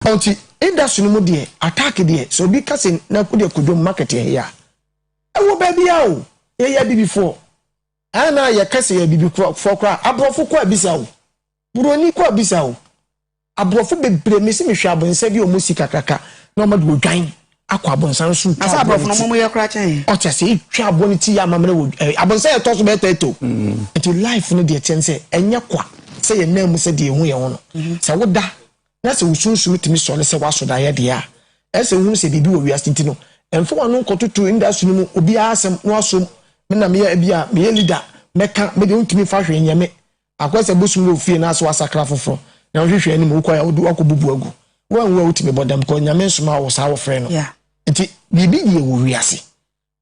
Ɔnti industry no mu deɛ attack deɛ sɛ obi ka se nanku deɛ kɔ dwom market yɛ hea ɛwɔ baabia o yɛ yɛ abibifoɔ ɛɛ na yɛ ka se yɛ abibifoɔ koraa aborɔfo kɔ abisa o buroni kɔ abisa o aborɔfo bebre mese mehwɛ abonsa bi ɔmo si kakraka na ɔmo de odwan akɔ abonsa no so retwa aboɔ no ti ɔte ase retwa aboɔ no ti yɛ amammerɛ wɔ ɛɛ abonsa yɛ tɔ so bɛɛ tɛɛtɛ o nti life no deɛ teɛ no sɛ ɛnyɛ kwa sɛ yɛ nan mu sɛ deɛ ehu yɛ ho no sɛ woda na sɛ wo sunsum tumi sɔre sɛ woaso daeɛ deɛ a, ɛsɛ sɛ wohunu sɛ biribi wɔ wiase nti no, mfa w'ano nkɔtoto industry no mu obiara asɛm na woasom me na meyɛ bi a meyɛ leader mɛka me deɛ wontumi mfa hwee nyɛ me akɔyɛ sɛ bosom wɔ ofie anaasɛ woasakra foforɔ na wohwehwɛ anim wokɔɛ a wode woakɔbubu agu woanwu a wotumi bɔ dam because Nyame nsoma wo saa wɔfrɛ no nti biribi deɛ wɔ wiase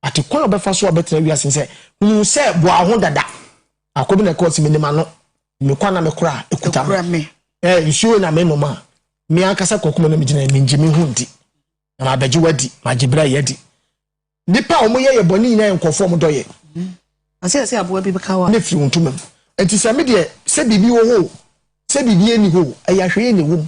Ate kwan a ɔbɛfa so a ɔbɛtena wiase no sɛ, Hunu sɛ boa wo ho dada. Akɔ bi na ɛka ɔsi, Menim ano, me kwa na me kora a ɛkuta me. Ɛɛ, nsuo na me nom a, me ankasa kɔ kuma na me gyina, mengye me ho ndi. Na mabɛgye wo adi, magye berɛ yɛ adi. Nipa a wɔn yɛ yɛ bɔne nyinaa yɛ nkɔfoɔ wɔn dɔ yɛ. Ase ɛsɛ aboa bi bɛka wa. Ne firi wo ntoma mu. Nti sɛ me deɛ, sɛ biribi wɔ hɔ o, sɛ biribi ɛni hɔ o, ɛyɛ ahwɛyɛ na ɛwɔ mu.